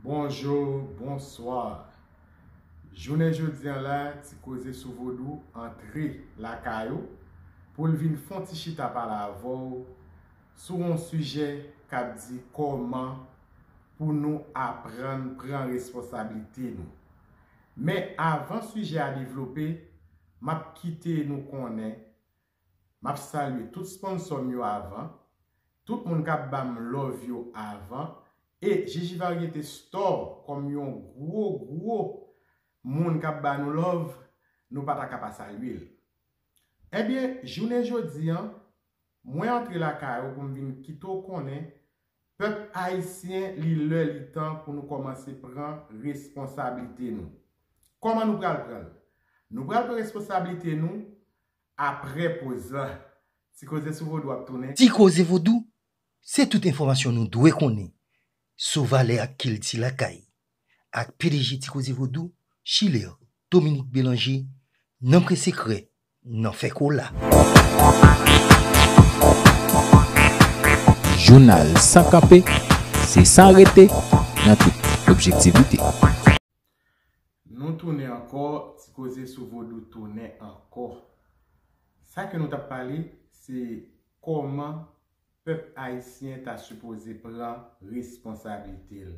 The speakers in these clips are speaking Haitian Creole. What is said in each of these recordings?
Bonjou, bonswa! Jounen jodi an la, Ti Koze sou Vodou antre lakay ou pou l vin fon ti chita pale avè w sou yon sijè k ap di kòman pou nou aprann pran responsablite nou. Men avan sijè a devlope, m ap kite nou konnen Map salye tout sponsor m yo avan, tout moun kap banm love yo avan e Jiji Variété Store kòm yon gwo gwo moun kap ba nou love nou pata ka pa salye l. Ebyen jounen jodi an mwen antre lakay ou pou m vin kite w konnen pèp ayisyen li lè li tan pou nou kòmanse pran responsablite nou. Kòman nou pral pran l? Nou pral pran responsablite nou Apre poz la, Ti Koze sou Vodou ap tounen. Ti Koze Vodou se tout enfòmasyon nou dwe konnen sou valè ak kilti lakay, ak pdg Ti Koze Vodou, Schiller Dominique Bélanger, nan pre sekrè, nan fè kola. Jounal san kanpe, se san rete, nan tout objektivite. Nou tounen ankò, ti koze sou vodou tounen ankò. Sa ke nou tap pale, se kòman pèp ayisyen ta sipoze pran responsablite l.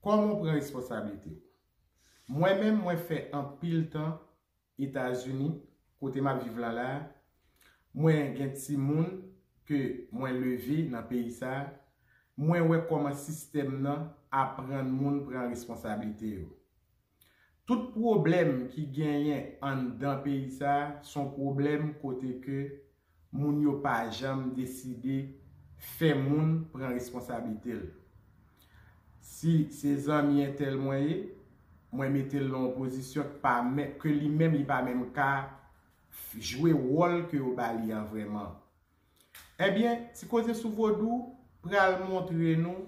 Kòman w pran responsablite w? Mwen menm mwen fè anpil tan Etazini, kote map viv lan la, mwen gen timoun ke mwen leve nan peyi sa, mwen wè kòman sistèm nan aprann moun pran responsablite yo. Tout pwoblèm ki genyen anndan peyi sa son pwoblèm kote ke moun yo pa janm deside fè moun pran responsablite l. Si se zanmi entèl mwen ye, mwen mete l nan yon pozisyon ke li menm li pa menm ka jwe wòl ke yo ba li an vrèman. Ebyen, Ti Koze sou Vodou pral montre nou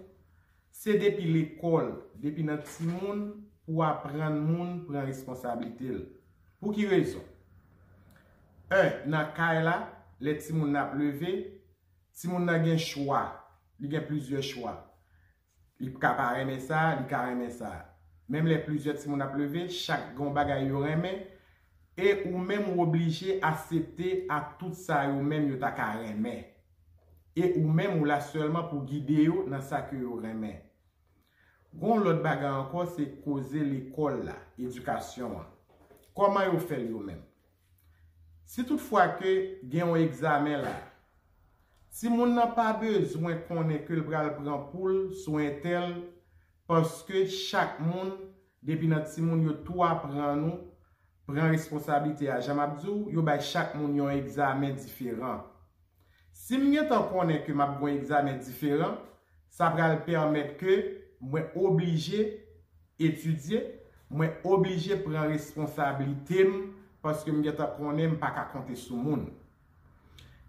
Se depi lekòl, depi nan timoun pou w aprann moun pran responsablite l. Pou ki rezon? 1 nan kay la, lè timoun nan ap leve, timoun nan gen chwa, li gen plizyè chwa. Li ka pa renmen sa, li ka renmen sa. Menm lè plizyè timoun ap leve, chak gen yon bagay yo renmen, E ou menm ou oblije asepte a tout sa yo menm yo ta ka renmen. E ou menm ou la sèlman pou gide yo nan sa ke yo renmen. Gen yon lòt bagay ankò se koze lekòl la, edikasyon an. Kòman yo fè l yo menm? Si tout fwa ke gen yon egzamen la, timoun nan pa bezwen konnen ke l pral pran poul sou entèl Paske chak moun depi nan timoun yo tou aprann ou pran responsablite a. Jan map diw, yo bay chak moun yon egzamen diferan. Sim gentan konnen ke map gen yon egzamen diferan, sa pral pèmèt ke mwen oblije etidye, mwen oblije pran responsablitem paske m gentan konnen m paka konte sou moun.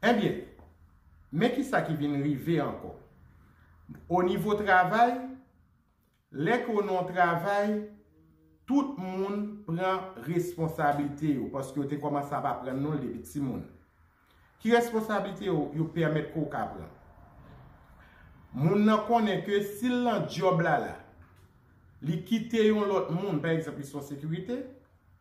Ebyen, men ki sa ki vin rive ankò. O nivo travay, lè ke w nan yon travay, tout moun pran responsablite yo, paske yo te kòmanse ap aprann nou l depi timoun. Ki responsablite yo, yo pèmèt ke w ka pran? Moun nan konnen ke si l nan djòb la la, li kite yon lòt moun, pa egzanp, li se yon sekirite,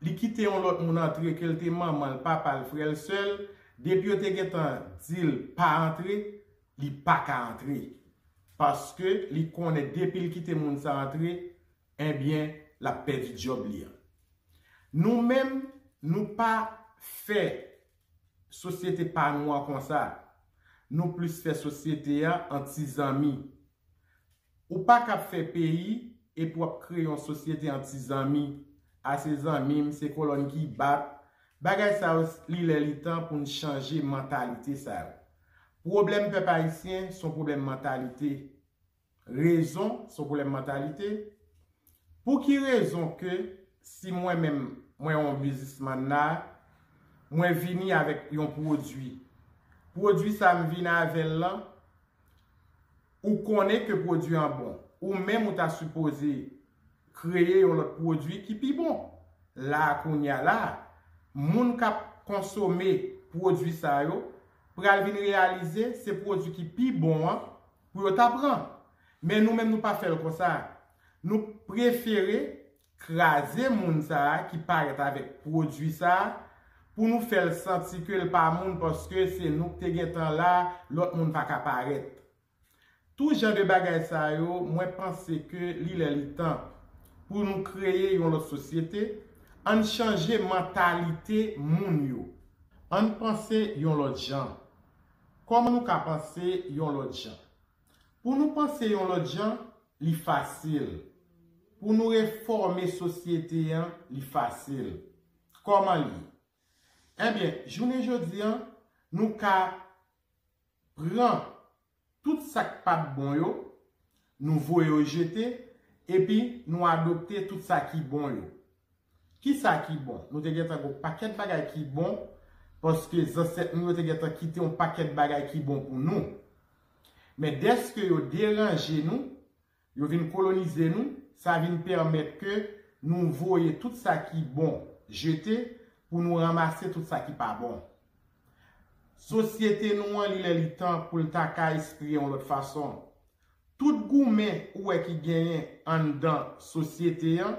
li kite yon lòt moun antre ke l te manman l, papa l, frè l, sè l, depi yo te gentan di l pa antre, li pa ka antre. Paske li konnen depi l kite moun sa antre, enbyen l ap pèdi djòb li an. Nou menm, nou pa fè sosyete pa nou an konsa. Nou plis fè sosyete an an ti zanmi. Ou pa kab fè peyi epi wap kreye yon sosyete an ti zanmi, a se zanmim, se kolòn ki bat, bagay sa yo li lè li tan pou n chanje mantalite sa yo. Pwoblèm pèp ayisyen son pwoblèm mantalite. Rezon son pwoblèm mantalite. Pou ki rezon ke si mwen menm mwen yon bizismann la, mwen vini avèk yon pwodui. Pwodui sa m vini avèl lan. Ou konnen ke pwodwi an bon. Ou menm ou ta sipoze kreye yon lòt pwodwi ki pi bon. La a kounye a la a, moun k ap konsome pwodwi sa yo pral vin reyalize se pwodwi ki pi bon an pou yo ta pran. Men nou menm nou pa fè l konsa. Nou prefere kraze moun sa ki parèt avèk pwodwi sa pou nou fèl santi kel pa moun paske se nou k te gentan la lòt moun paka parèt tou jan de bagay sa yo mwen panse ke li lè li tan pou nou kreye yon lòt sosyete ann chanje mantalite moun yo ann panse yon lòt jan kòman nou ka panse yon lòt jan. Pou nou panse yon lòt jan, li fasil. Pou nou refòme sosyete an, li fasil. Kòman l ye? Enben, jounen jodi a, nou ka pran tout sa k pa t bon yo, nou voye yo jete, epi nou adopte tout sa ki bon yo. Kisa ki bon? Nou te gentan gen yon pakèt bagay ki bon, paske zansèt nou yo te gentan kite yon pakèt bagay ki bon pou nou. Men dèske yo deranje nou, yo vin kolonize nou, sa vin pèmèt ke nou voye tout sa ki bon jete pou nou ranmase tout sa ki pa bon. Sosyete nou an li lè li tan pou l ta ka espire yon lòt fason. Tout goumen ou wè ki genyen anndan sosyete an,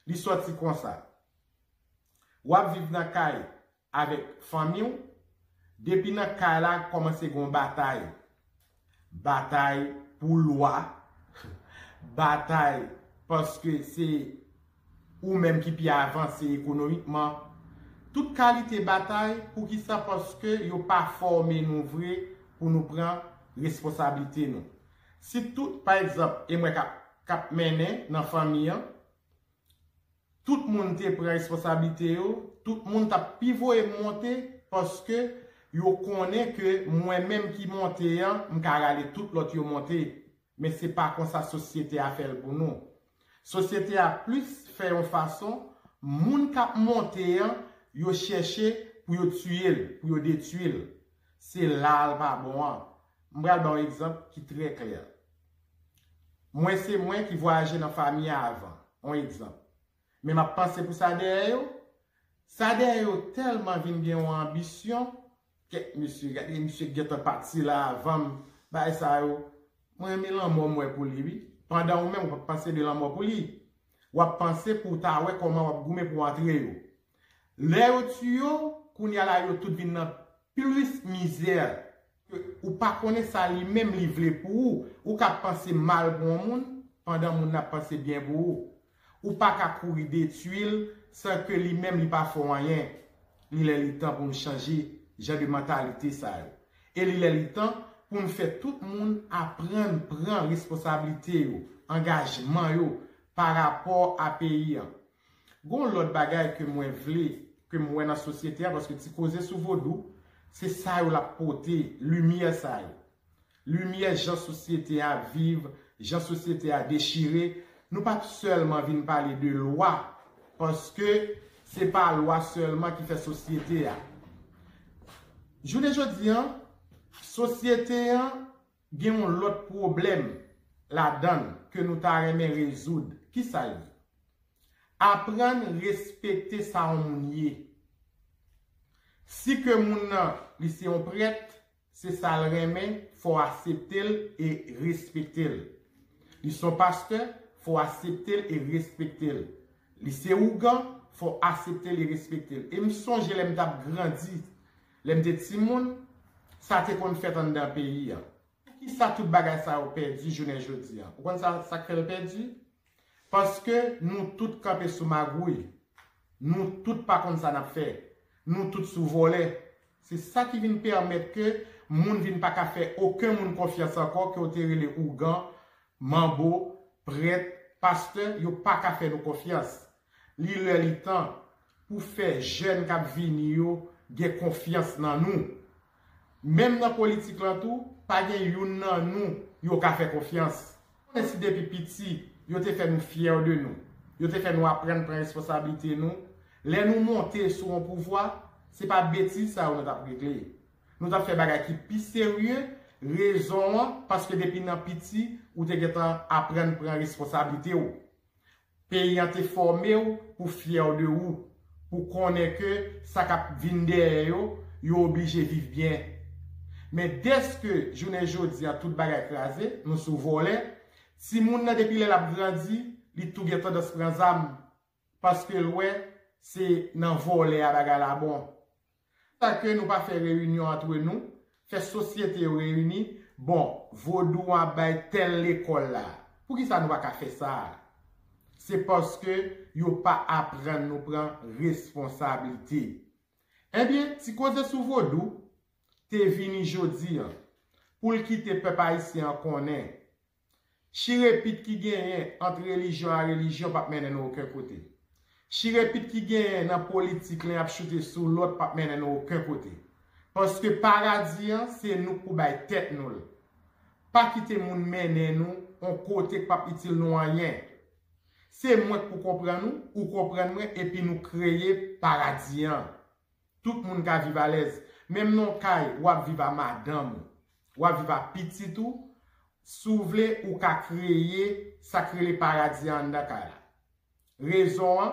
Li sòti konsa. W ap viv nan kay avèk fanmi w, depi nan kay la kòmanse gen yon batay. Batay pou lwa, batay paske se ou menm ki pi avanse ekonomikman. Tout kalite batay, poukisa paske yo pa fòme nou vre pou nou pran responsablite nou. Si tout, pa egzanp, e mwen k ap k ap mennen nan fanmi an, tout moun te pran responsablite yo, tout moun t ap pi voye m monte paske yo konnen ke mwen menm ki monte an, m ka rale tout lòt yo monte. Men se pa konsa sosyete a fè l pou nou. Sosyete a plis fè yon fason moun k ap monte an yo chèche pou yo tiye l, pou yo detui l. Se la a l pa bon an. M pral ba w egzanp ki trè klè. Mwen se mwen ki vwayaje nan fami a avan, on egzanp. Men m ap panse pou sa dèyè yo. Sa dèyè yo tèlman vin gen yon anbisyon. Kèt mesye gade misye gentan pati la avanm bay sa yo mwen renmen lanmò m wè pou li wi pandan ou menm ou pap panse de lanmò pou li wap panse pou w ta wè kòman wap goumen pou w antre yo lè yo tiye w kounya la yo tout vin nan plis mizè ke ou pa konnen sa li menm li vle pou ou ou ka panse mal pou yon moun pandan moun nan ap panse byen pou ou Ou pa ka kouri detui l san ke li menm li pa fè w anyen. Li lè li tan pou n chanje jan de mantalite sa yo. E li lè li tan pou n fè tout moun aprann pran responsablite yo, angajman yo pa rapò a peyi an. Gen yon lòt bagay ke mwen vle, ke m wè nan sosyete a, paske ti koze sou vodou, se sa yo l ap pote, limyè sa yo. Limyè jan sosyete a viv, jan sosyete a dechire, nou pap sèlman vin pale de lwa, paske se pa lwa sèlman ki fè sosyete a. Jounen jodi an, sosyete an gen yon lòt pwoblèm ladan l ke nou ta renmen rezoud. Ki sa l ye? Aprann respekte sa yon moun ye. Si ke moun nan li se yon prèt, Se sa l renmen, fò w asepte l e respekte l. Li s on pastè, fò w asepte l e respekte l. Li se ougan, fò w asepte l e respekte l. E m sonje lè m t ap grandi, lè m te timoun, sa te konn fèt anndan peyi a. Poukisa tout bagay sa yo pèdi jounen jodi a? Ou konn sa k fè l pèdi? Paske nou tout kanpe sou magouy, nou tout pa konn sa nap fè, nou tout sou vòlè. Se sa ki vin pèmèt ke moun vin pa ka fè oken moun konfyans ankò ke w te rele ougan, manbo, prèt, pastè, yo pa ka fè nou konfyans. Li lè li tan pou fè jèn kap vini yo gen konfyans nan nou. Menm nan politik lan tou, pa gen youn nan nou yo ka fè konfyans. Ou konnen si depi piti yo te fè nou fyè de nou, yo te fè nou aprann pran responsablite nou, lè nou monte sou yon pouvwa, se pa betiz sa yo nou tap regle. Nou tap fè bagay ki pi serye, rezon an, paske depi nan piti ou te gentan aprann pran responsablite ou. Peyi an te fòme w pou fyè de ou, pou konnen ke sa k ap vin dèyè yo, yo oblije viv byen. Men dèske jounen jodi a tout bagay kraze, nou sou vòlè, timoun nan depi lè l ap grandi, li tou gen tandans pran zam, paske l wè se nan vòlè a bagay la bon. Sa ke nou pa fè reyinyon antre nou, fè sosyete yo reyini, bon, vodou an ap bay tèl lekòl la. Poukisa nou pa ka fè sa a? Se paske yo pa aprann nou pran responsablite. Ebyen, ti koze sou vodou, te vini jodi an, pou l kite pèp ayisyen an konnen, Chire pit ki genyen ant relijyon a relijyon pap mennen nou oken kote. Chire pit ki genyen nan politik len ap choute sou lòt pap mennen nou oken kote. Paske paradi an se nou k pou bay tèt nou l. Pa kite moun mennen nou on kote k pap itil nou anyen. Se mwen k pou konprann ou, ou konprann mwen epi nou kreye paradi an. Tout moun ka viv alèz. Menm non kay ou ap viv a madanm ou. Ou ap viv a pitit ou. Si w vle ou ka kreye sa k rele paradi a anndan kay la. Rezon an,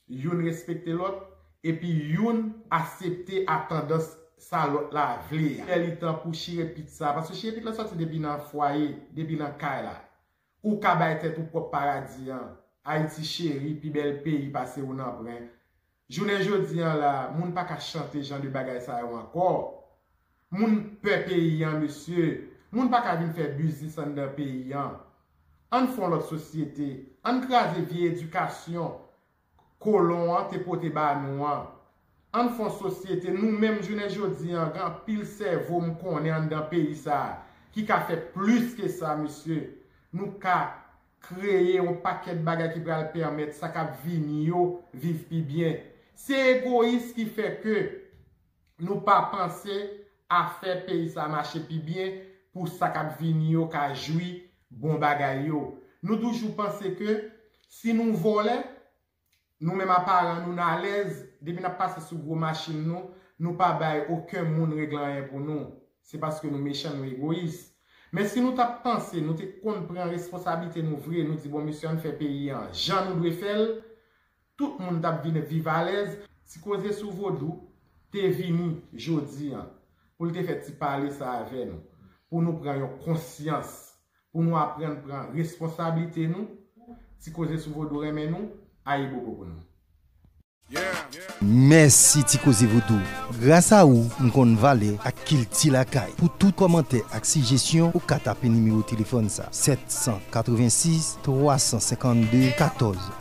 youn respekte lòt epi youn asepte a tandans sa lòt la vle a. Lè li tan pou chire pit sa, paske chire pit la sòti depi nan fwaye, depi nan kay la. Ou ka bay tèt ou pwòp paradi an, Ayiti cheri, pi bèl peyi pase ou nanpren. Jounen jodi an la, moun pa ka chante jan de bagay sa yo ankò. Moun pè peyi an mesye, moun pa ka vin fè biznis anndan peyi an. Ann fon lòt sosyete, ann kraze vye edikasyon, kolon an te pote ba nou an. An n fon sosyete, nou menm jounen jodi an, gen anpil sèvo m konnen anndan peyi sa a ki ka fè plis ke sa mesye. Nou ka kreye yon pakèt bagay ki pral pèmèt sa k ap vini yo viv pi byen. Se egoyis ki fè ke. nou pa panse a fè peyi sa mache pi byen pou sa k ap vini yo ka jwi bon bagay yo. Nou toujou panse ke si nou vòlè, nou menm aparan nou, n alèz, depi n ap pase sou gwo machin nou, nou pa bay oken moun regle anyen pou nou. Se paske nou mechan, nou egoyis. Men si nou t ap panse, nou te konn pran responsablite nou vre, nou di bon mesye an n fè peyi an jan nou dwe fè l, Tout moun tap vin viv alèz si koze sou vodou te vini jodi an pou l te fè ti pale sa avè nou pou nou pran yon konsyans pou nou aprann pran responsablite nou ti koze sou vodou renmen nou ayibobo pou nou. Mèsi ti koze vodou gras a ou m konn valè ak kilti lakay pou tout kòmantè ak sijesyon ou ka tape nimewo telefòn sa 786 352 14.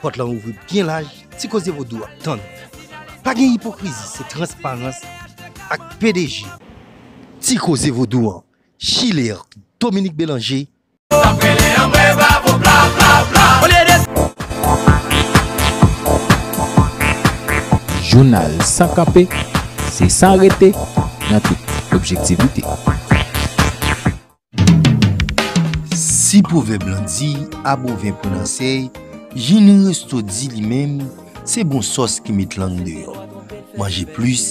Pòt lan ouvri byen laj, Ti Koze Vodou ap tann ou. Pa gen ipokrizi, se transparans ak pdg. Ti Koze Vodou an, Chilert Dominique Belanger. Nap rele anmwe bravo bla bla bla olye de. Jounal san kanpe, se san rete nan tout objektivite. Si pwovèb lan di a bon vin pran nan sèy, Jini Resto di li menm se bon sòs ki met lang deyò. Manje plis,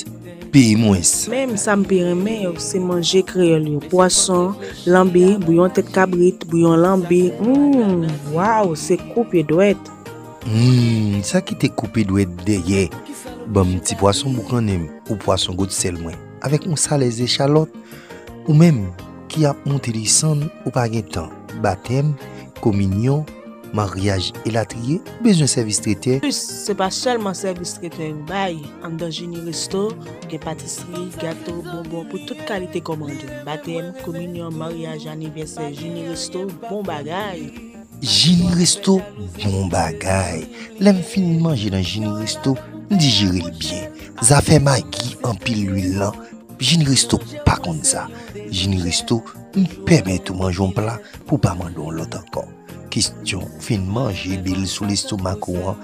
peye mwens. Menm sa m pi renmen yo se manje kreyòl yo, pwason, lanbi, bouyon tèt kabrit, bouyon lanbi, humm, waww se koupe dwèt. Humm, sa ki te koupe dwèt dèyè, ban m ti pwason boukannen m ou pwason gotsèl mwen. Avèk yon salè zechalòt, ou menm ki ap moute desann ou pa gen tan, batèm, kominyon, maryaj elatriye, ou bezwen sèvis tretè, Anplis, se pa sèlman sèvis tretè yo bay, anndan Jeni Resto, gen patisri, gato, bonbon pou tout kalite kòmande, batèm, kominyon, maryaj, anivèsè, Jeni Resto, bon bagay! Jini resto bon bagay. Lèm fin manje nan jini resto m dijerel byen. Zafè magi anpil lwil lan jini resto pa konn sa. Jini resto m pèmèt ou manje yon pla pou pa mande yon lòt ankò. Kestyon fin manje bil sou lestomak ou an.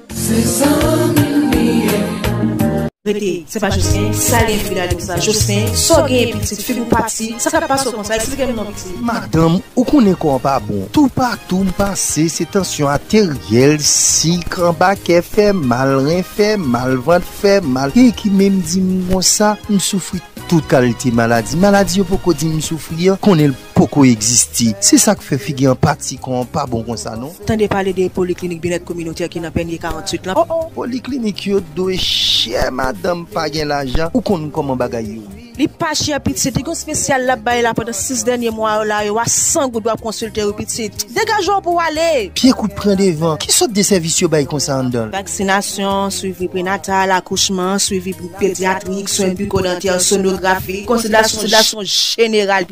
Se zanmi m li ye. Rete, se pa Jocelyn, sa gen fi la di m sa, Jocelyn, sa w genyen pitit, figi w pati, sa k ap pase w konsa, eksplike m non pitit. Madanm, ou konnen kò an pa bon, toupatou m pase se tansyon ateryèl, sik, anba kè fè mal, ren fè mal, vant fè mal, gen ki menm di m konsa, m soufri tout kalite maladi, maladi yo poko di m soufri an, konnen l. poko egziste. Se sak fè figi anpati kò an pa bon konsa non. Tande pale de poliklinik byenèt kominotè ki nan Pènye 48 lan oh oh. Poliklinik yo dwe chè madanm pa gen lajan ou konn kòman bagay yo ye. Li pa chè pitit, li gon spesyal lap bay la pandan 6 dènye mwa yo la yo a 100 goud wap konsilte wi pitit. Degaje'w pou'w ale! Pye kout pran devan. Ki sòt de sèvis yo bay konsa anndan'l? Vaksinasyon, swivi prenatal, akouchman, swivi pedyatrik, swen biko-dantè, sonografi, konsiltasyon jeneral.